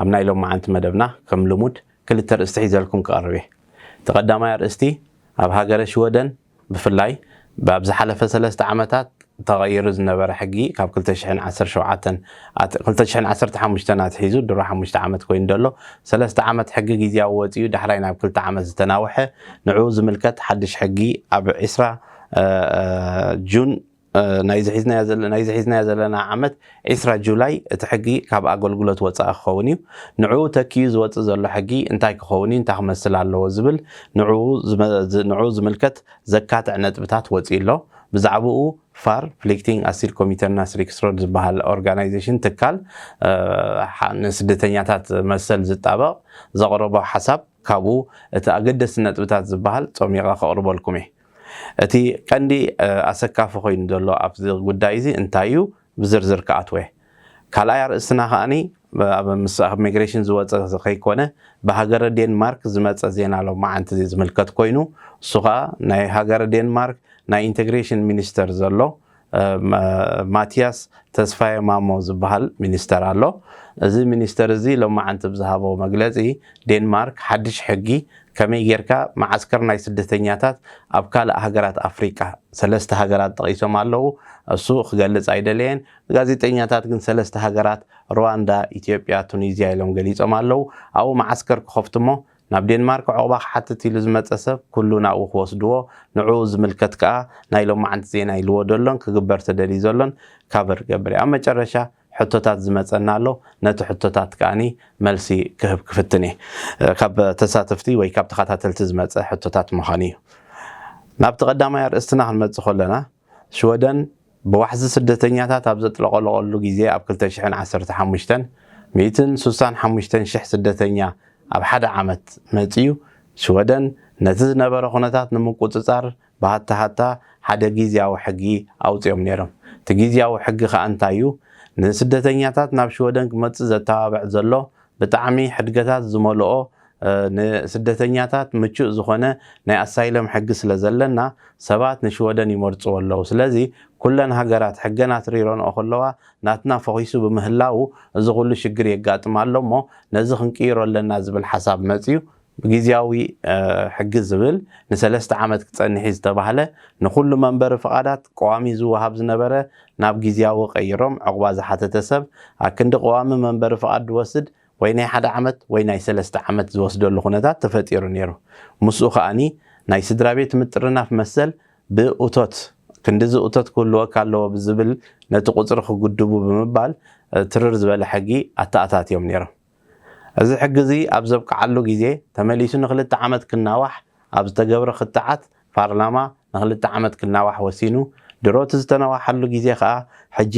ኣብ ናይ ሎምዓንቲ መደብና ከም ልሙድ ክልተ ኣርእስቲ ሒዘልኩም ክቐርብ እየ። እቲ ቀዳማይ ኣርእስቲ ኣብ ሃገረ ሽወደን ብፍላይ ኣብ ዝሓለፈ ሰለስተ ዓመታት ተቐይሩ ዝነበረ ሕጊ ካብ ክልተ ሽሕን ዓሰርተ ሸውዓተን ኣት ክልተ ሽሕን ዓሰርተ ሓሙሽተን ኣትሒዙ ድሮ ሓሙሽተ ዓመት ኮይኑ ዘሎ ሰለስተ ዓመት ሕጊ ግዝያዊ ወጺኡ ዳሕራይ ናብ ክልተ ዓመት ዝተናውሐ ንዕኡ ዝምልከት ሓድሽ ሕጊ ኣብ ዕስራ ጁን ናይዚ ሒዝናዮ ዘለና ዓመት ዕስራ ጁላይ እቲ ሕጊ ካብ ኣገልግሎት ወፃኢ ክኸውን እዩ። ንዕኡ ተኪኡ ዝወፅእ ዘሎ ሕጊ እንታይ ክኸውን እዩ፣ እንታይ ክመስል ኣለዎ ዝብል ንዕኡ ዝምልከት ዘካትዕ ነጥብታት ወፂኡ ኣሎ። ብዛዕብኡ ፋር፣ ፍሊክቲንግ ኣሲል ኮሚተርናስ ሪክስሮድ፣ ዝበሃል ኦርጋናይዜሽን፣ ትካል፣ ንስደተኛታት መሰል ዝጣበቕ ዘቕረቦ ሓሳብ ካብኡ እቲ ኣገደስቲ ነጥብታት ዝበሃል ፀሚቐ ከቕርበልኩም እየ። እቲ ቀንዲ ኣሰካፊ ኮይኑ ዘሎ ኣብዚ ጉዳይ እዚ እንታይ እዩ ብዝርዝር ክኣትወ። ካልኣይ ኣርእስትና ከኣ ኣብ ምስ ሚግሬሽን ዝወጸ ከይኮነ ብሃገረ ዴንማርክ ዝመጸ ዜና ሎማዓንቲ እዚ ዝምልከት ኮይኑ እሱ ከኣ ናይ ሃገረ ዴንማርክ ናይ ኢንተግሬሽን ሚኒስተር ዘሎ ማቲያስ ተስፋየ ማሞ ዝበሃል ሚኒስተር ኣሎ። እዚ ሚኒስተር እዚ ሎማዕንቲ ብዝሃቦ መግለጺ፣ ዴንማርክ ሓድሽ ሕጊ ከመይ ጌርካ መዓስከር ናይ ስደተኛታት ኣብ ካልእ ሃገራት ኣፍሪቃ፣ ሰለስተ ሃገራት ጠቒሶም ኣለዉ፣ እሱ ክገልጽ ኣይደለየን፣ ጋዜጠኛታት ግን ሰለስተ ሃገራት ሩዋንዳ፣ ኢትዮጵያ፣ ቱኒዝያ ኢሎም ገሊጾም ኣለዉ፣ ኣብኡ መዓስከር ክኸፍቱ'ሞ ናብ ዴንማርክ ዑቕባ ክሓትት ኢሉ ዝመጸ ሰብ ኩሉ ናብኡ ክወስድዎ፣ ንዕኡ ዝምልከት ከኣ ናይ ሎማዕንቲ ዜና ኢልዎ ደሎን ክግበር ተደልዩ ዘሎን ካቨር ይገብር እየ። ኣብ መጨረሻ ሕቶታት ዝመጸና ኣሎ፣ ነቲ ሕቶታት ከኣኒ መልሲ ክህብ ክፍትን እየ። ካብ ተሳተፍቲ ወይ ካብ ተኸታተልቲ ዝመጸ ሕቶታት ምዃኑ እዩ። ናብቲ ቀዳማይ ኣርእስትና ክንመጽእ ከሎና፣ ሽወደን ብዋሕዚ ስደተኛታት ኣብ ዘጥለቐለቐሉ ግዜ ኣብ ክልተ ሽሕን ዓሰርተ ሓሙሽተን ሚእትን ሱሳን ሓሙሽተን ሽሕ ስደተኛ ኣብ ሓደ ዓመት መጺኡ ሽወደን ነቲ ዝነበረ ኩነታት ንምቁጽጻር ብሃታ ሃታ ሓደ ጊዝያዊ ሕጊ ኣውጺኦም ነይሮም እቲ ጊዝያዊ ሕጊ ከኣ እንታዩ ንስደተኛታት ናብ ሽወደን ክመጽእ ዘተባብዕ ዘሎ ብጣዕሚ ሕድገታት ዝመልኦ ንስደተኛታት ምቹእ ዝኾነ ናይ ኣሳይለም ሕጊ ስለ ዘለና ሰባት ንሽወደን ይመርጽዎ ኣለዉ ስለዚ ኩለን ሃገራት ሕገን ኣትሪረንኦ ከለዋ ናትና ፈኺሱ ብምህላዉ እዚ ኩሉ ሽግር የጋጥም ኣሎ እሞ ነዚ ክንቅይሮ ኣለና ዝብል ሓሳብ መጽዩ ብግዝያዊ ሕጊ ዝብል ንሰለስተ ዓመት ክጸንሕ'ዩ ዝተባህለ ንኹሉ መንበሪ ፍቓዳት ቀዋሚ ዝወሃብ ዝነበረ ናብ ግዝያዊ ቀይሮም ዑቕባ ዝሓተተ ሰብ ኣክንዲ ቀዋሚ መንበሪ ፍቓድ ዝወስድ ወይ ናይ ሓደ ዓመት ወይ ናይ ሰለስተ ዓመት ዝወስደሉ ኩነታት ተፈጢሩ ነይሩ ምስኡ ከኣ ናይ ስድራቤት ምጥርናፍ መሰል ብእቶት ክንድዚ እቶት ክህልወካ ኣለዎ ብዝብል ነቲ ቁጽሪ ክጉድቡ ብምባል ትርር ዝበለ ሕጊ ኣተኣታትዮም ነይሮም። እዚ ሕጊ እዚ ኣብ ዘብቅዓሉ ግዜ ተመሊሱ ንክልተ ዓመት ክናዋሕ ኣብ ዝተገብረ ክትዓት ፓርላማ ንክልተ ዓመት ክናዋሕ ወሲኑ፣ ድሮ እቲ ዝተነዋሓሉ ግዜ ከኣ ሕጂ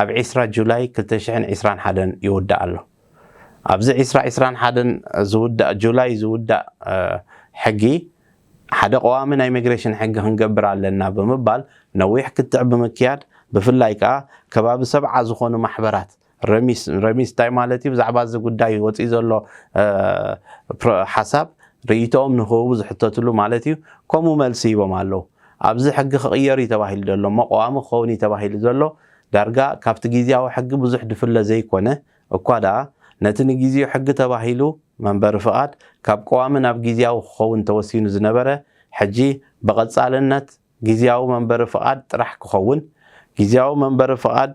ኣብ ዕስራ ጁላይ ክልተ ሽሕን ዕስራን ሓደን ይውዳእ ኣሎ። ኣብዚ ዕስራ ዕስራን ሓደን ዝውዳእ ጁላይ ዝውዳእ ሕጊ ሓደ ቀዋሚ ናይ መግረሽን ሕጊ ክንገብር ኣለና ብምባል ነዊሕ ክትዕ ብምክያድ ብፍላይ ከኣ ከባቢ ሰብዓ ዝኾኑ ማሕበራት ረሚስ ረሚስ እንታይ ማለት እዩ ብዛዕባ እዚ ጉዳይ ወፂኡ ዘሎ ሓሳብ ርእይቶኦም ንክህቡ ዝሕተትሉ ማለት እዩ ከምኡ መልሲ ሂቦም ኣለዉ ኣብዚ ሕጊ ክቕየር እዩ ተባሂሉ ዘሎ እሞ ቀዋሚ ክኸውን እዩ ተባሂሉ ዘሎ ዳርጋ ካብቲ ግዝያዊ ሕጊ ብዙሕ ድፍለ ዘይኮነ እኳ ደኣ ነቲ ንግዝዩ ሕጊ ተባሂሉ መንበሪ ፍቓድ ካብ ቀዋሚ ናብ ግዝያዊ ክኸውን ተወሲኑ ዝነበረ ሕጂ ብቐፃልነት ግዝያዊ መንበሪ ፍቓድ ጥራሕ ክኸውን፣ ግዝያዊ መንበሪ ፍቓድ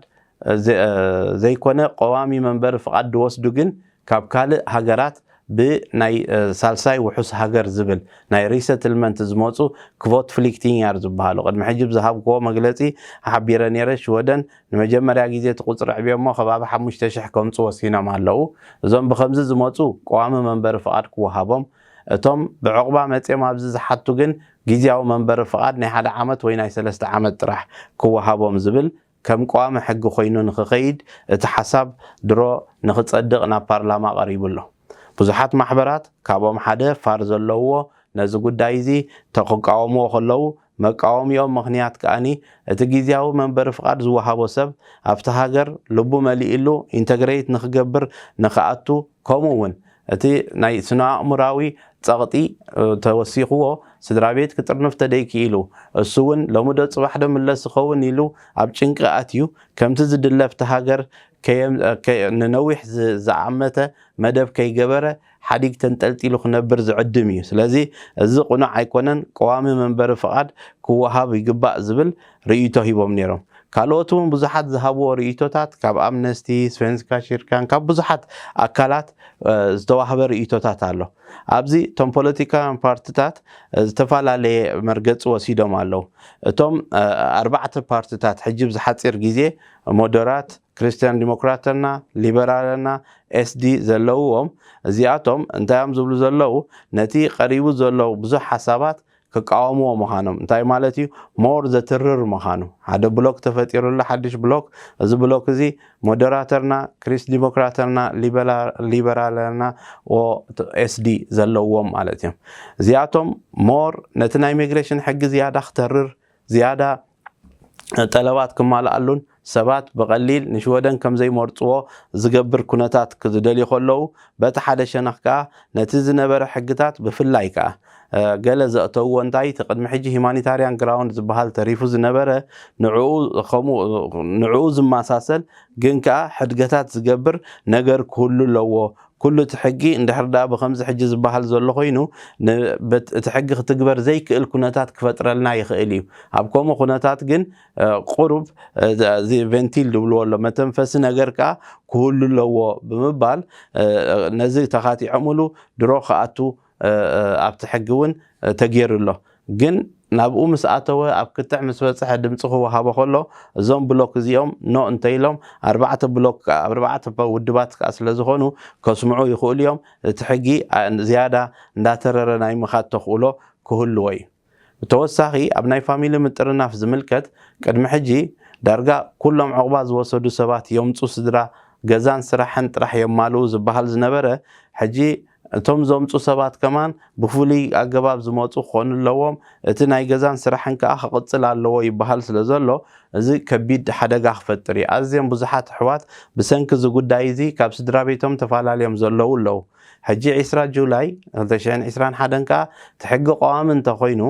ዘይኮነ ቀዋሚ መንበሪ ፍቓድ ዝወስዱ ግን ካብ ካልእ ሃገራት ብ ናይ ሳልሳይ ውሑስ ሃገር ዝብል ናይ ሪሰትልመንት ዝመጹ ክቮትፍሊክቲንያር ዝበሃሉ ቅድሚ ሕጂ ብዝሃብኩዎ መግለጺ ሓቢረ ነይረ ሽወደን ንመጀመርያ ግዜ እቲ ቁጽሪ ኣዕብዮሞ ከባቢ ሓሙሽተ ሽሕ ከምጹ ወሲኖም ኣለዉ እዞም ብከምዚ ዝመጹ ቀዋሚ መንበሪ ፍቓድ ክወሃቦም እቶም ብዕቑባ መጽዮም ኣብዚ ዝሓቱ ግን ግዝያዊ መንበሪ ፍቓድ ናይ ሓደ ዓመት ወይ ናይ ሰለስተ ዓመት ጥራሕ ክወሃቦም ዝብል ከም ቀዋሚ ሕጊ ኮይኑ ንክኸይድ እቲ ሓሳብ ድሮ ንክፀድቕ ናብ ፓርላማ ቀሪቡ ኣሎ። ብዙሓት ማሕበራት ካብኦም ሓደ ፋር ዘለውዎ ነዚ ጉዳይ እዚ ተክቃወምዎ ከለው መቃወሚኦም ምኽንያት ከኣ እቲ ግዝያዊ መንበሪ ፍቓድ ዝወሃቦ ሰብ ኣብቲ ሃገር ልቡ መሊእሉ ኢንተግረይት ንክገብር ንክኣቱ ከምኡ እውን እቲ ናይ ስነኣእሙራዊ ጸቕጢ ተወሲኽዎ ስድራቤት ክጥርንፍ ተደይክኢሉ፣ እሱውን ሎሚዶ ጽባሕዶ ምለስ ዝኸውን ኢሉ ኣብ ጭንቂ ኣትዩ፣ ከምቲ ዝድለፍቲ ሃገር ንነዊሕ ዝኣመተ መደብ ከይገበረ ሓዲግ ተንጠልጢሉ ክነብር ዝዕድም ኢዩ። ስለዚ እዚ ቅኑዕ ኣይኮነን፣ ቀዋሚ መንበሪ ፍቓድ ክወሃብ ይግባእ ዝብል ርእይቶ ሂቦም ነይሮም። ካልኦት እውን ብዙሓት ዝሃብዎ ርእይቶታት ካብ ኣምነስቲ፣ ስቨንስካ ኪርካን ካብ ብዙሓት ኣካላት ዝተዋህበ ርእይቶታት ኣሎ። ኣብዚ እቶም ፖለቲካውያን ፓርትታት ዝተፈላለየ መርገፂ ወሲዶም ኣለው። እቶም ኣርባዕተ ፓርትታት ሕጂ ኣብዚ ሓፂር ግዜ ሞደራት፣ ክሪስትያን ዲሞክራተና፣ ሊበራለና፣ ኤስዲ ዘለውዎም እዚኣቶም እንታይ እዮም ዝብሉ ዘለው ነቲ ቀሪቡ ዘሎ ብዙሕ ሓሳባት ክቃወምዎ ምኻኖም እንታይ ማለት እዩ ሞር ዘትርር ምኻኑ ሓደ ብሎክ ተፈጢሩላ ሓድሽ ብሎክ እዚ ብሎክ እዚ ሞደራተርና ክሪስ ዲሞክራተርና ሊበራለርና ኦ ኤስዲ ዘለዎም ማለት እዮም እዚኣቶም ሞር ነቲ ናይ ሚግሬሽን ሕጊ ዝያዳ ክተርር ዝያዳ ጠለባት ክማልኣሉን ሰባት ብቐሊል ንሽወደን ከም ዘይመርጽዎ ዝገብር ኩነታት ክዝደልዩ ከለዉ፣ በቲ ሓደ ሸነኽ ከኣ ነቲ ዝነበረ ሕግታት ብፍላይ ከኣ ገለ ዘእተውዎ እንታይ እቲ ቅድሚ ሕጂ ሂማኒታርያን ግራውንድ ዝበሃል ተሪፉ ዝነበረ ንዕኡ ከምኡ ንዕኡ ዝመሳሰል ግን ከኣ ሕድገታት ዝገብር ነገር ክህሉ ኣለዎ ኩሉ እቲ ሕጊ እንድሕር ድኣ ብኸምዚ ሕጂ ዝበሃል ዘሎ ኮይኑ ን እቲ ሕጊ ክትግበር ዘይክእል ኩነታት ክፈጥረልና ይኽእል እዩ። ኣብ ከምኡ ኩነታት ግን ቁሩብ እዚ ቨንቲል ዝብልዎ ኣሎ መተንፈሲ ነገር ከኣ ክህሉ ኣለዎ ብምባል ነዚ ተኻቲዖምሉ ድሮ ክኣቱ ኣብቲ ሕጊ እውን ተገይሩ ኣሎ ግን ናብኡ ምስ ኣተወ ኣብ ክትዕ ምስ በጽሐ ድምጺ ክወሃቦ ከሎ እዞም ብሎክ እዚኦም ኖእ እንተኢሎም ኣርባዕተ ብሎክ ከኣ ኣርባዕተ ውድባት ከኣ ስለ ዝኾኑ ከስምዑ ይኽእሉ እዮም እቲ ሕጊ ዝያዳ እንዳተረረ ናይ ምኻድ ተኽእሎ ክህልዎ እዩ። ብተወሳኺ ኣብ ናይ ፋሚሊ ምጥርናፍ ዝምልከት ቅድሚ ሕጂ ዳርጋ ኩሎም ዑቕባ ዝወሰዱ ሰባት የምፁ ስድራ ገዛን ስራሕን ጥራሕ የማልኡ ዝባሃል ዝነበረ ሕጂ እቶም ዘምፁ ሰባት ከማን ብፉሉይ ኣገባብ ዝመፁ ክኾኑ ኣለዎም እቲ ናይ ገዛን ስራሕን ከዓ ክቕፅል ኣለዎ ይባሃል ስለዘሎ እዚ ከቢድ ሓደጋ ክፈጥር እዩ ኣዝየም ብዙሓት ኣሕዋት ብሰንኪ እዚ ጉዳይ እዚ ካብ ስድራቤቶም ተፋላልዮም ዘለዉ ኣለዉ ሕጂ ዕስራ ጁላይ ክልተ ሽሕን ዕስራን ሓደን ከኣ እቲ ሕጊ ቀዋሚ እንተ ኾይኑ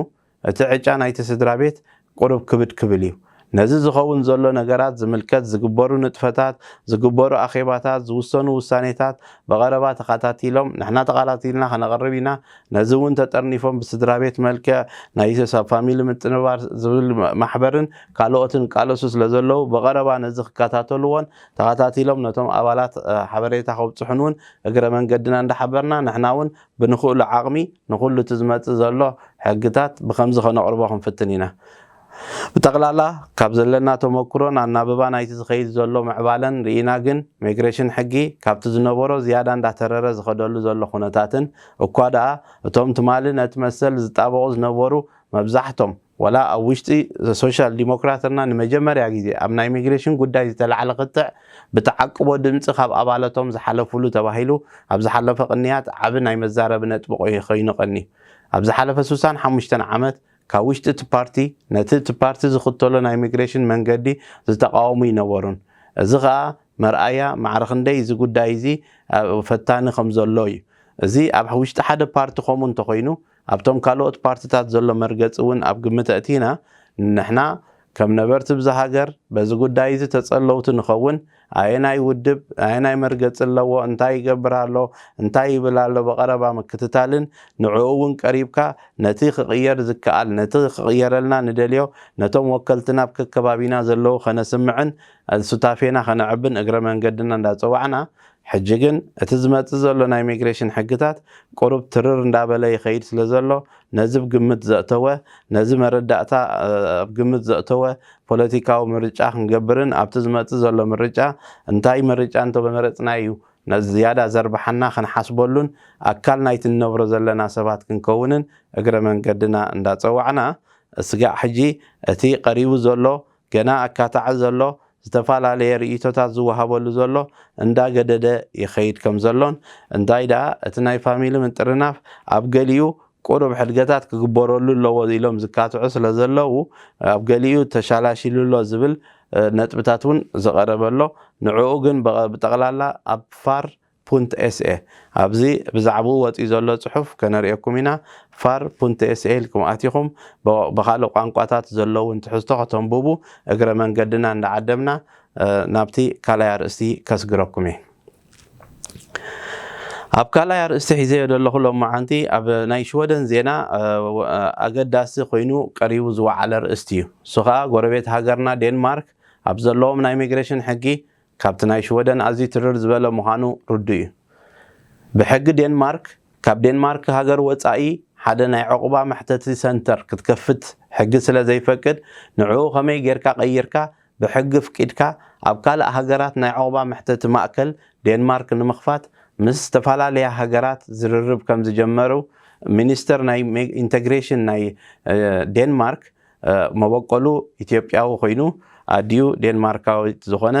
እቲ ዕጫ ናይቲ ስድራቤት ቁሩብ ክብድ ክብል እዩ። ነዚ ዝኸውን ዘሎ ነገራት ዝምልከት ዝግበሩ ንጥፈታት፣ ዝግበሩ ኣኼባታት፣ ዝውሰኑ ውሳኔታት ብቐረባ ተኻታቲሎም ንሕና ተኻታቲልና ከነቕርብ ኢና። ነዚ እውን ተጠርኒፎም ብስድራቤት መልክዕ ናይ ኢትዮስ ኣብ ፋሚሊ ምጥንባር ዝብል ማሕበርን ካልኦትን ይቃለሱ ስለ ዘለዉ ብቐረባ ነዚ ክከታተሉዎን ተኸታቲሎም ነቶም ኣባላት ሓበሬታ ከብጽሑን ውን እግረ መንገድና እንዳሓበርና ንሕና ውን ብንኽእሎ ዓቕሚ ንኹሉ እቲ ዝመጽእ ዘሎ ሕግታት ብኸምዚ ከነቕርቦ ክንፍትን ኢና። ብጠቕላላ ካብ ዘለና ተመኩሮን ኣናብባ ናይቲ ዝኸይድ ዘሎ ምዕባለን ርኢና ግን ሜግሬሽን ሕጊ ካብቲ ዝነበሮ ዝያዳ እንዳተረረ ዝኸደሉ ዘሎ ኩነታትን እኳ ደኣ እቶም ትማሊ ነቲ መሰል ዝጣበቑ ዝነበሩ መብዛሕቶም ዋላ ኣብ ውሽጢ ሶሻል ዲሞክራትና ንመጀመርያ ግዜ ኣብ ናይ ሚግሬሽን ጉዳይ ዝተላዕለ ክትዕ ብተዓቅቦ ድምጺ ካብ ኣባለቶም ዝሓለፍሉ ተባሂሉ ኣብ ዝሓለፈ ቅንያት ዓቢ ናይ መዛረቢ ነጥቢ ኮይኑ ቀንዩ። ኣብ ዝሓለፈ ስሳን ሓሙሽተን ዓመት ካብ ውሽጢ እቲ ፓርቲ ነቲ እቲ ፓርቲ ዝኽተሎ ናይ ሚግሬሽን መንገዲ ዝተቓወሙ ይነበሩን። እዚ ከኣ መርኣያ ማዕረ ክንደይ እዚ ጉዳይ እዚ ፈታኒ ከም ዘሎ እዩ። እዚ ኣብ ውሽጢ ሓደ ፓርቲ ከምኡ እንተኾይኑ፣ ኣብቶም ካልኦት ፓርቲታት ዘሎ መርገጺ እውን ኣብ ግምት ኣእቲና ንሕና ከም ነበርቲ ብዛ ሃገር በዚ ጉዳይ እዚ ተጸለውቲ ንኸውን፣ ኣየናይ ውድብ ኣየናይ መርገጺ ኣለዎ፣ እንታይ ይገብር ኣሎ፣ እንታይ ይብል ኣሎ ብቐረባ ምክትታልን ንዕኡ እውን ቀሪብካ ነቲ ክቕየር ዝከኣል ነቲ ክቕየረልና ንደልዮ ነቶም ወከልትና ኣብ ከከባቢና ዘለዉ ከነስምዕን ሱታፌና ከነዕብን እግረ መንገድና እንዳጸዋዕና ሕጂ ግን እቲ ዝመጽእ ዘሎ ናይ ሚግሬሽን ሕግታት ቁሩብ ትርር እንዳበለ ይኸይድ ስለ ዘሎ ነዚ ብ ግምት ዘእተወ ነዚ መረዳእታ ኣብ ግምት ዘእተወ ፖለቲካዊ ምርጫ ክንገብርን ኣብቲ ዝመጽእ ዘሎ ምርጫ እንታይ ምርጫ እንተመረጽና እዩ ዝያዳ ዘርብሓና ክንሓስበሉን ኣካል ናይቲ ንነብሮ ዘለና ሰባት ክንከውንን እግረ መንገድና እንዳጸዋዕና ስጋዕ ሕጂ እቲ ቀሪቡ ዘሎ ገና ኣካታዒ ዘሎ፣ ዝተፈላለየ ርእይቶታት ዝወሃበሉ ዘሎ እንዳ ገደደ ይኸይድ ከም ዘሎን፣ እንታይ ደኣ እቲ ናይ ፋሚሊ ምጥርናፍ ኣብ ገሊኡ ቁሩብ ሕድገታት ክግበረሉ ኣለዎ ኢሎም ዝካትዑ ስለ ዘለዉ፣ ኣብ ገሊኡ ተሻላሺሉ ኣሎ ዝብል ነጥብታት እውን ዝቐረበ ኣሎ። ንዕኡ ግን ብጠቕላላ ኣብ ፋር ፑንትኤስኤ ኣብዚ ብዛዕብኡ ወጺኡ ዘሎ ጽሑፍ ከነርእየኩም ኢና፣ ፋር ፑንትኤስኤ ኢልኩም ኣቲኹም ብኻልእ ቋንቋታት ዘለዉን ትሕዝቶ ከተንቡቡ እግረ መንገድና እንዳዓደምና ናብቲ ካልኣይ ኣርእስቲ ከስግረኩም እየ። ኣብ ካልኣይ ኣርእስቲ ሒዘዮ ዘለኹ ሎማዓንቲ ኣብ ናይ ሽወደን ዜና ኣገዳሲ ኮይኑ ቀሪቡ ዝወዓለ ርእስቲ እዩ። እሱ ከኣ ጎረቤት ሃገርና ዴንማርክ ኣብ ዘለዎም ናይ ሚግሬሽን ሕጊ ካብቲ ናይ ሽወደን ኣዝዩ ትርር ዝበለ ምዃኑ ርዱእ እዩ። ብሕጊ ዴንማርክ፣ ካብ ዴንማርክ ሃገር ወጻኢ ሓደ ናይ ዑቕባ መሕተቲ ሰንተር ክትከፍት ሕጊ ስለ ዘይፈቅድ፣ ንዕኡ ከመይ ጌርካ ቀይርካ ብሕጊ ኣፍቂድካ ኣብ ካልእ ሃገራት ናይ ዑቕባ መሕተቲ ማእከል ዴንማርክ ንምኽፋት ምስ ዝተፈላለያ ሃገራት ዝርርብ ከም ዝጀመሩ ሚኒስተር ናይ ኢንተግሬሽን ናይ ዴንማርክ መበቆሉ ኢትዮጵያዊ ኮይኑ ኣዲኡ ዴንማርካዊት ዝኾነ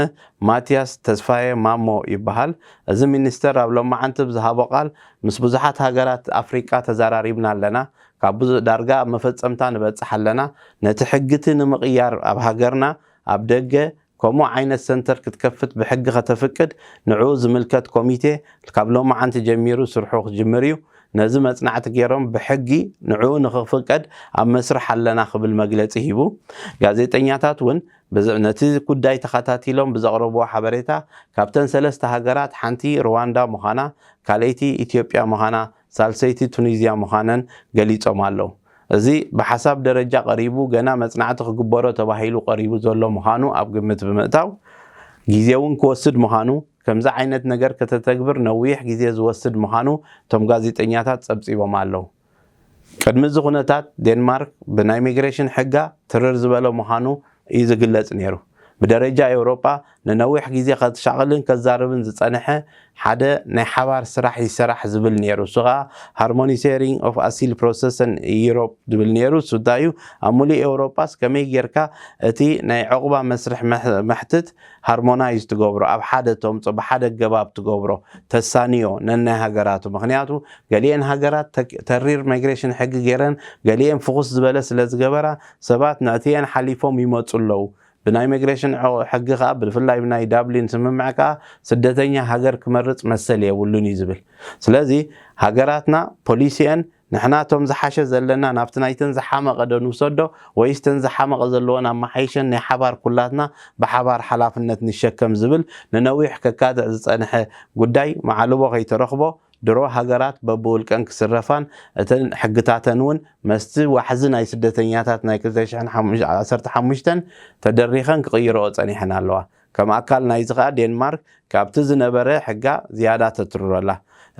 ማቲያስ ተስፋየ ማሞ ይበሃል። እዚ ሚኒስተር ኣብ ሎማዓንቲ ብ ዝሃቦ ቃል ምስ ብዙሓት ሃገራት ኣፍሪቃ ተዛራሪብና ኣለና። ካብ ብዙ ዳርጋ ኣብ መፈጸምታ ንበጽሕ ኣለና። ነቲ ሕጊ'ቲ ንምቕያር ኣብ ሃገርና ኣብ ደገ ከምኡ ዓይነት ሰንተር ክትከፍት ብሕጊ ከተፍቅድ ንዕኡ ዝምልከት ኮሚቴ ካብ ሎማዓንቲ ጀሚሩ ስርሑ ክጅምር እዩ። ነዚ መፅናዕቲ ገይሮም ብሕጊ ንዕኡ ንክፍቀድ ኣብ መስርሕ ኣለና ክብል መግለፂ ሂቡ። ጋዜጠኛታት እውን ነቲ ጉዳይ ተኸታቲሎም ብዘቕረብዎ ሓበሬታ ካብተን ሰለስተ ሃገራት ሓንቲ ሩዋንዳ ምዃና ካልኣይቲ ኢትዮጵያ ምዃና ሳልሰይቲ ቱኒዝያ ምዃነን ገሊጾም ኣለው። እዚ ብሓሳብ ደረጃ ቀሪቡ ገና መጽናዕቲ ክግበሮ ተባሂሉ ቀሪቡ ዘሎ ምዃኑ ኣብ ግምት ብምእታው፣ ግዜ'ውን ክወስድ ምዃኑ፣ ከምዚ ዓይነት ነገር ከተተግብር ነዊሕ ግዜ ዝወስድ ምዃኑ እቶም ጋዜጠኛታት ጸብጺቦም ኣለው። ቅድሚ እዚ ኩነታት ዴንማርክ ብናይ ሚግሬሽን ሕጋ ትርር ዝበለ ምዃኑ እዩ ዝግለጽ ነይሩ። ብደረጃ ኤውሮጳ ንነዊሕ ግዜ ከሻቕልን ከዛርብን ዝጸንሐ ሓደ ናይ ሓባር ስራሕ ይሰራሕ ዝብል ነይሩ። እሱ ከኣ ሃርሞኒሴሪንግ ኦፍ ኣሲል ፕሮሰሰን ኢዩሮፕ ዝብል ነይሩ። እሱ እንታይ እዩ ኣብ ምሉእ ኤውሮጳስ ከመይ ጌርካ እቲ ናይ ዑቕባ መስርሕ መሕትት ሃርሞናይዝ ትገብሮ፣ ኣብ ሓደ ተምጾ፣ ብሓደ ኣገባብ ትገብሮ፣ ተሳንዮ ነናይ ሃገራቱ። ምኽንያቱ ገሊኤን ሃገራት ተሪር ማይግሬሽን ሕጊ ጌረን ገሊኤን ፍኹስ ዝበለ ስለ ዝገበራ ሰባት ንዕትየን ሓሊፎም ይመጹ ኣለዉ። ብናይ መግሬሽን ሕጊ ከኣ ብፍላይ ብናይ ዳብሊን ስምምዕ ከኣ ስደተኛ ሃገር ክመርጽ መሰል የብሉን እዩ ዝብል። ስለዚ ሃገራትና ፖሊሲኤን ንሕና እቶም ዝሓሸ ዘለና ናብቲ ናይተን ዝሓመቐ ዶ ንውሰዶ ወይስ እተን ዝሓመቐ ዘለወን ኣማሓይሸን ናይ ሓባር ኩላትና ብሓባር ሓላፍነት ንሸከም ዝብል ንነዊሕ ከካትዕ ዝጸንሐ ጉዳይ መዓልቦ ከይተረኽቦ ድሮ ሃገራት በብውልቀን ክስረፋን እተን ሕግታተን እውን መስቲ ዋሕዚ ናይ ስደተኛታት ናይ ክልተ ሽሕን ዓሰርተ ሓሙሽተን ተደሪኸን ክቕይረኦ ጸኒሐን ኣለዋ። ከም ኣካል ናይዚ ከኣ ዴንማርክ ካብቲ ዝነበረ ሕጋ ዝያዳ ተትርሮ ኣላ።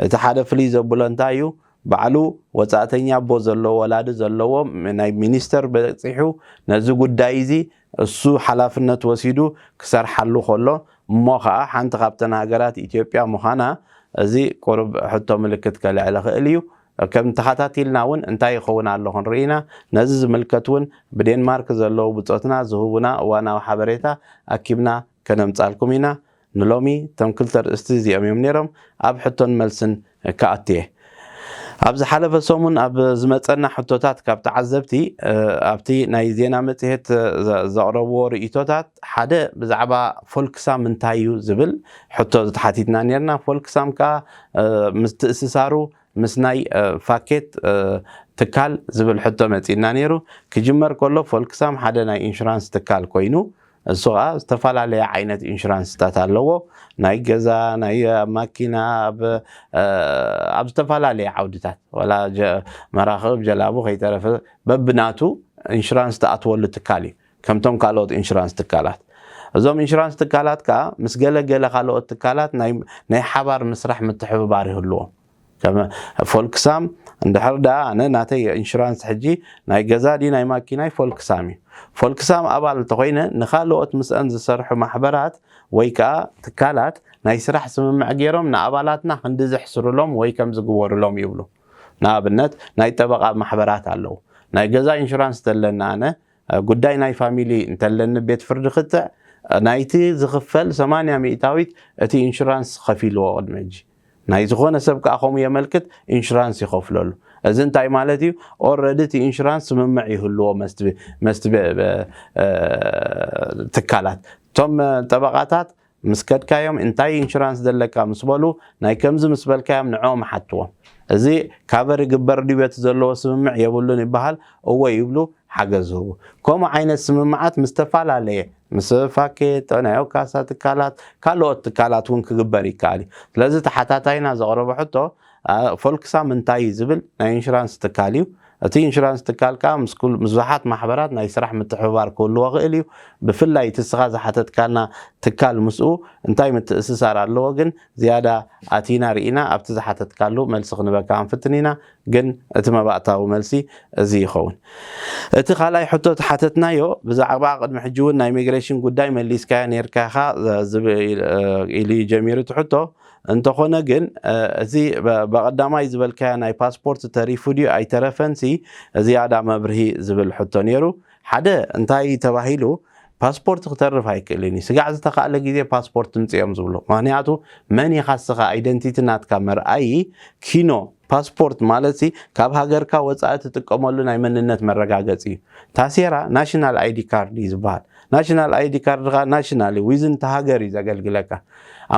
እቲ ሓደ ፍልይ ዘብሎ እንታይ እዩ ባዕሉ ወጻእተኛ ኣቦ ዘለዎ ወላዲ ዘለዎ ናይ ሚኒስተር በጺሑ ነዚ ጉዳይ እዚ እሱ ሓላፍነት ወሲዱ ክሰርሓሉ ከሎ እሞ ከኣ ሓንቲ ካብተን ሃገራት ኢትዮጵያ ምዃና እዚ ቁሩብ ሕቶ ምልክት ከልዕል ይኽእል እዩ። ከም ተኻታቲልና ውን እንታይ ይኸውን ኣሎ ክንርኢ ኢና። ነዚ ዝምልከት ውን ብዴንማርክ ዘለዉ ብጾትና ዝህቡና እዋናዊ ሓበሬታ ኣኪብና ከነምጻልኩም ኢና። ንሎሚ እቶም ክልተ ኣርእስቲ እዚኦም እዮም ነይሮም ኣብ ሕቶን መልስን ክኣቱ እየ። ኣብ ዝሓለፈ ሰሙን ኣብ ዝመጸና ሕቶታት ካብ ተዓዘብቲ ኣብቲ ናይ ዜና መጽሔት ዘቕረብዎ ርእይቶታት ሓደ ብዛዕባ ፎልክሳም እንታይ እዩ ዝብል ሕቶ ተሓቲትና ነርና። ፎልክሳም ከኣ ምትእስሳሩ ምስ ናይ ፋኬት ትካል ዝብል ሕቶ መጺእና ነይሩ። ክጅመር ከሎ ፎልክሳም ሓደ ናይ ኢንሹራንስ ትካል ኮይኑ እሱ ኸዓ ዝተፈላለየ ዓይነት ኢንሹራንስታት ኣለዎ። ናይ ገዛ፣ ናይ ኣብ ማኪና፣ ኣብ ኣብ ዝተፈላለየ ዓውድታት ዋላ መራኽብ፣ ጀላቡ ከይተረፈ በብናቱ ኢንሹራንስ ትኣትወሉ ትካል እዩ። ከምቶም ካልኦት ኢንሹራንስ ትካላት። እዞም ኢንሹራንስ ትካላት ከኣ ምስ ገለ ገለ ካልኦት ትካላት ናይ ናይ ሓባር ምስራሕ ምትሕብባር ይህልዎም። ከም ፎልክሳም እንድሕር ደኣ ኣነ ናተይ ኢንሹራንስ ሕጂ ናይ ገዛ ድዩ ናይ ማኪናይ ፎልክሳም እዩ። ፎልክሳም ኣባል እንተኾይነ ንኻልኦት ምስኣን ዝሰርሑ ማሕበራት ወይ ከኣ ትካላት ናይ ስራሕ ስምምዕ ገይሮም ንኣባላትና ክንዲ ዘሕስሩሎም ወይ ከም ዝግበሩሎም ይብሉ። ንኣብነት ናይ ጠበቓ ማሕበራት ኣለዉ። ናይ ገዛ ኢንሹራንስ ተለኒ ኣነ ጉዳይ ናይ ፋሚሊ እንተለኒ ቤት ፍርዲ ክትዕ ናይቲ ዝኽፈል ሰማንያ ሚእታዊት እቲ ኢንሹራንስ ከፊልዎ ቅድሚ ሕጂ። ናይ ዝኾነ ሰብ ከኣ ከምኡ የመልክት ኢንሹራንስ ይኸፍለሉ እዚ እንታይ ማለት እዩ ኦረዲ እቲ ኢንሹራንስ ስምምዕ ይህልዎ መስቲ ትካላት እቶም ጠበቓታት ምስ ከድካዮም እንታይ ኢንሹራንስ ዘለካ ምስ በሉ ናይ ከምዚ ምስ በልካዮም ንዕኦም ሓትዎም እዚ ካቨር ይግበር ድዩ በቲ ዘለዎ ስምምዕ የብሉን ይበሃል እወ ይብሉ ሓገዝ ዝህቡ ከምኡ ዓይነት ስምምዓት ምስ ዝተፈላለየ ምስ ፋኬት፣ ጥዕናዮ ካሳ ትካላት፣ ካልኦት ትካላት እውን ክግበር ይከኣል እዩ። ስለዚ ተሓታታይና ዘቕረቦ ሕቶ ፎልክሳም እንታይ እዩ ዝብል ናይ ኢንሹራንስ ትካል እዩ። እቲ ኢንሹራንስ ትካል ከኣ ምስ ብዙሓት ማሕበራት ናይ ስራሕ ምትሕብባር ክህልዎ ይኽእል እዩ። ብፍላይ እቲ እስኻ ዝሓተትካና ትካል ምስኡ እንታይ ምትእስሳር ኣለዎ ግን ዝያዳ ኣቲና ርኢና ኣብቲ ዝሓተትካሉ መልሲ ክንበካ ክንፍትን ኢና። ግን እቲ መባእታዊ መልሲ እዚ ይኸውን። እቲ ካልኣይ ሕቶ እቲ ሓተትናዮ ብዛዕባ ቅድሚ ሕጂ እውን ናይ ሚግሬሽን ጉዳይ መሊስካዮ ኔርካ ኢኻ ኢሉ እዩ ጀሚሩ እቲ ሕቶ። እንተኾነ ግን እዚ በቐዳማይ ዝበልካዮ ናይ ፓስፖርት ተሪፉ ድዩ ኣይተረፈንሲ ዝያዳ መብርሂ ዝብል ሕቶ ኔሩ። ሓደ እንታይ እዩ ተባሂሉ ፓስፖርት ክተርፍ ኣይክእልን እዩ ስጋዕ ዝተካእለ ግዜ ፓስፖርት ትምፅ እዮም ዝብሉ ምክንያቱ መን ኢካ እስካ ኣይደንቲቲ ናትካ መርኣዪ ኪኖ ፓስፖርት ማለት ሲ ካብ ሃገርካ ወፃኢ ትጥቀመሉ ናይ መንነት መረጋገፂ እዩ ታሴራ ናሽናል ኣይዲ ካርድ እዩ ዝበሃል ናሽናል ኣይዲ ካርድ ከ ናሽናል እዩ ዊዝን ተሃገር እዩ ዘገልግለካ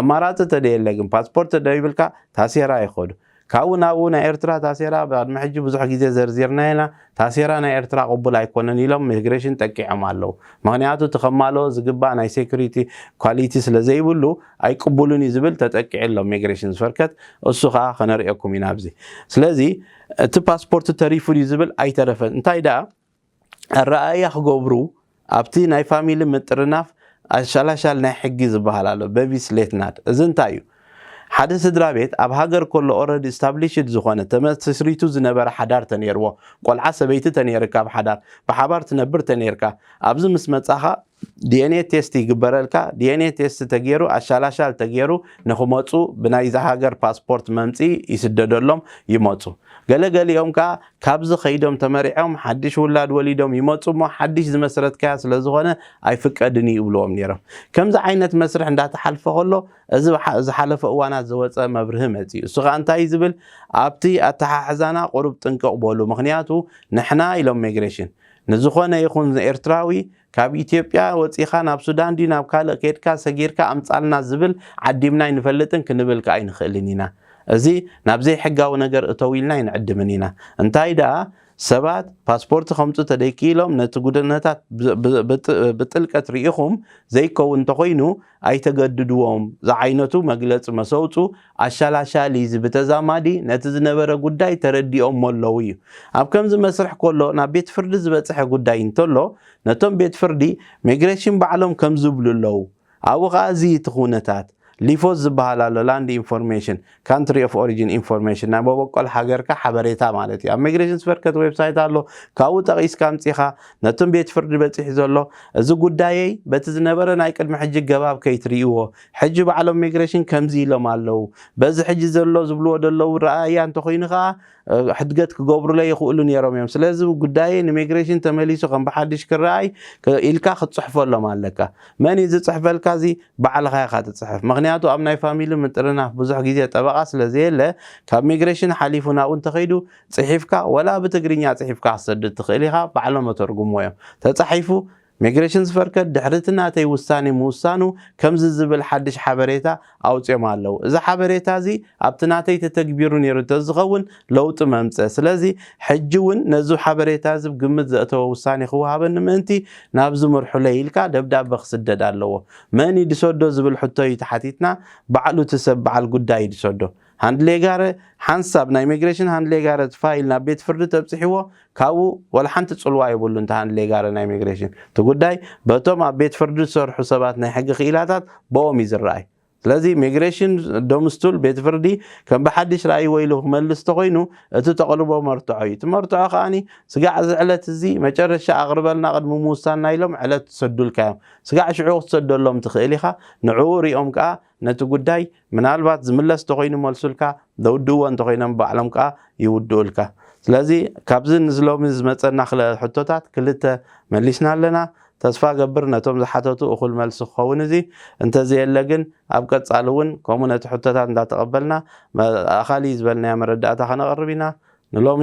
ኣማራፂ ተደየለ ግን ፓስፖርት ተደይብልካ ታሴራ ይከዱ ካብኡ ናብኡ ናይ ኤርትራ ታሴራ ቅድሚ ሕጂ ብዙሕ ግዜ ዘርዚርናዮ ኢና፣ ታሴራ ናይ ኤርትራ ቅቡል ኣይኮነን ኢሎም ሚግሬሽን ጠቂዖም ኣለው። ምኽንያቱ እቲ ከማልኦ ዝግባእ ናይ ሴኩሪቲ ኳሊቲ ስለ ዘይብሉ ኣይቅቡልን እዩ ዝብል ተጠቂዑ ኣሎ ሚግሬሽን ዝፈርከት እሱ ከኣ ከነርእየኩም ኢና ኣብዚ። ስለዚ እቲ ፓስፖርት ተሪፉ ድዩ ዝብል ኣይተረፈን እንታይ ደኣ፣ ኣረኣእያ ክገብሩ ኣብቲ ናይ ፋሚሊ ምጥርናፍ ኣሻላሻል ናይ ሕጊ ዝበሃል ኣሎ በቪስ ሌትናድ እዚ እንታይ እዩ ሓደ ስድራ ቤት ኣብ ሃገር ከሎ ኦረዲ ስታብሊሽድ ዝኾነ ተመስሪቱ ዝነበረ ሓዳር ተነይርዎ ቆልዓ ሰበይቲ ተነይርካ ኣብ ሓዳር ብሓባር ትነብር ተነይርካ ኣብዚ ምስ መጻኻ ዲኤንኤ ቴስት ይግበረልካ ዲኤንኤ ቴስት ተጌሩ ኣሻላሻል ተጌሩ ንክመፁ ብናይዛ ሃገር ፓስፖርት መምፅኢ ይስደደሎም ይመፁ ገለ ገሊኦም ከዓ ካብዚ ከይዶም ተመሪዖም ሓድሽ ውላድ ወሊዶም ይመፁ እሞ ሓድሽ ዝመስረትካያ ስለዝኾነ ኣይፍቀድን እዩ ይብልዎም ነይሮም ከምዚ ዓይነት መስርሕ እንዳተሓልፈ ከሎ እዚ ዝሓለፈ እዋናት ዘወፀ መብርሂ መፂኡ እሱ ከዓ እንታይ ዝብል ኣብቲ ኣተሓሕዛና ቁሩብ ጥንቅቕ በሉ ምክንያቱ ንሕና ኢሎም ሚግሬሽን ንዝኾነ ይኹን ኤርትራዊ ካብ ኢትዮጵያ ወጺኻ ናብ ሱዳን ድዩ ናብ ካልእ ኬድካ ሰጊርካ ኣምጻልና ዝብል ዓዲምና ኣይንፈልጥን ክንብል ከኣ ኣይንኽእልን ኢና። እዚ ናብ ዘይሕጋዊ ነገር እተው ኢልና ኣይንዕድምን ኢና። እንታይ ደኣ ሰባት ፓስፖርት ከምጹ ተደይክኢሎም ነቲ ጉድነታት ብጥልቀት ርኢኹም ዘይከውን እንተኾይኑ ኣይተገድድዎም ዝዓይነቱ መግለጺ መሰውጹ ኣሻላሻሊ እዚ ብተዛማዲ ነቲ ዝነበረ ጉዳይ ተረዲኦሞ ኣለዉ እዩ። ኣብ ከምዚ መስርሕ ኮሎ ናብ ቤት ፍርዲ ዝበጸሐ ጉዳይ እንተሎ ነቶም ቤት ፍርዲ ሜግረሽን ባዕሎም ከምዚ ይብሉ ኣለዉ ኣብኡ ከኣ እዚ እቲ ኩነታት ሊፎዝ ዝበሃል ኣሎ ላንድ ኢንፎርሜሽን ካንትሪ ኦፍ ኦሪጂን ኢንፎርሜሽን ናይ መበቆል ሃገርካ ሓበሬታ ማለት እዩ ኣብ ሚግሬሽን ስቨርከት ዌብሳይት ኣሎ ካብኡ ጠቒስካ ኣምፂኻ ነቶም ቤት ፍርዲ በፂሑ ዘሎ እዚ ጉዳየይ በቲ ዝነበረ ናይ ቅድሚ ሕጂ ገባብ ከይትርእይዎ ሕጂ ባዕሎም ሚግሬሽን ከምዚ ኢሎም ኣለው በዚ ሕጂ ዘሎ ዝብልዎ ደለው ረኣያ እንተኾይኑ ከዓ ሕድገት ክገብሩለይ ይኽእሉ ነይሮም እዮም። ስለዚ ጉዳየይ ንሜግሬሽን ተመሊሱ ከም ብሓድሽ ክረኣይ ኢልካ ክትጽሕፈሎም ኣለካ። መን እዩ ዝጽሕፈልካ እዚ? ባዕልኻ ኢኻ ትጽሕፍ። ምኽንያቱ ኣብ ናይ ፋሚሊ ምጥርናፍ ብዙሕ ግዜ ጠበቓ ስለ ዘየለ ካብ ሜግሬሽን ሓሊፉ ናብኡ እንተኸይዱ ጽሒፍካ ወላ ብትግርኛ ጽሒፍካ ክትሰድድ ትኽእል ኢኻ ባዕሎም እተርጉምዎ እዮም። ተጻሒፉ ሚግሬሽንስ ፈርከት ድሕሪ'ቲ ናተይ ውሳኔ ምውሳኑ ከምዚ ዝብል ሓድሽ ሓበሬታ ኣውጺኦም ኣለዉ፣ እዚ ሓበሬታ'ዚ ኣብቲ ናተይ ተተግቢሩ ነይሩ እንተዝኸውን ለውጢ መምጸ፣ ስለዚ ሕጂ ውን ነዚ ሓበሬታ'ዚ ብ ግምት ዘእተወ ውሳኔ ክወሃበኒ ምእንቲ ናብዚ ምርሑለይ ኢልካ ደብዳበ ክስደድ ኣለዎ፣ መን ይድሰዶ ዝብል ሕቶ'ዩ ተሓቲትና፣ ባዕሉ እቲ ሰብ በዓል ጉዳይ ይድሰዶ። ሃንድሌጋረ ሓንሳብ ናይ ኢሚግሬሽን ሃንድሌጋረ ፋይል ናብ ቤት ፍርዲ ተብጺሕዎ ካብኡ ዋላ ሓንቲ ጽልዋ የብሉን እቲ ሃንድሌጋረ ናይ ኢሚግሬሽን እቲ ጉዳይ በቶም ኣብ ቤት ፍርዲ ዝሰርሑ ሰባት ናይ ሕጊ ክኢላታት ቦኦም እዩ ዝረኣይ ስለዚ ኢሚግሬሽን ዶምስቱል ቤት ፍርዲ ከም ብሓድሽ ራእይ ወይሉ ክመልስ ተኾይኑ እቲ ተቕርቦ መርትዖ እዩ እቲ መርትዖ ከኣኒ ስጋዕ እዚ ዕለት እዚ መጨረሻ ኣቕርበልና ቅድሚ ምውሳንና ኢሎም ዕለት ትሰዱልካ እዮም ስጋዕ ሽዑ ክትሰደሎም ትኽእል ኢኻ ንዕኡ ሪኦም ከኣ ነቲ ጉዳይ ምናልባት ዝምለስ ተኾይኑ ይመልሱልካ፣ ዘውድእዎ እንተኾይኖም ባዕሎም ከኣ ይውድኡልካ። ስለዚ ካብዚ ንዚ ሎሚ ዝመጸና ክልተ ሕቶታት ክልተ መሊስና ኣለና። ተስፋ እገብር ነቶም ዝሓተቱ እኹል መልሲ ክኸውን እዚ እንተዘየለ ግን ኣብ ቀጻሊ እውን ከምኡ ነቲ ሕቶታት እንዳተቐበልና ኣኻሊ ዝበልናዮ መረዳእታ ከነቕርብ ኢና። ንሎሚ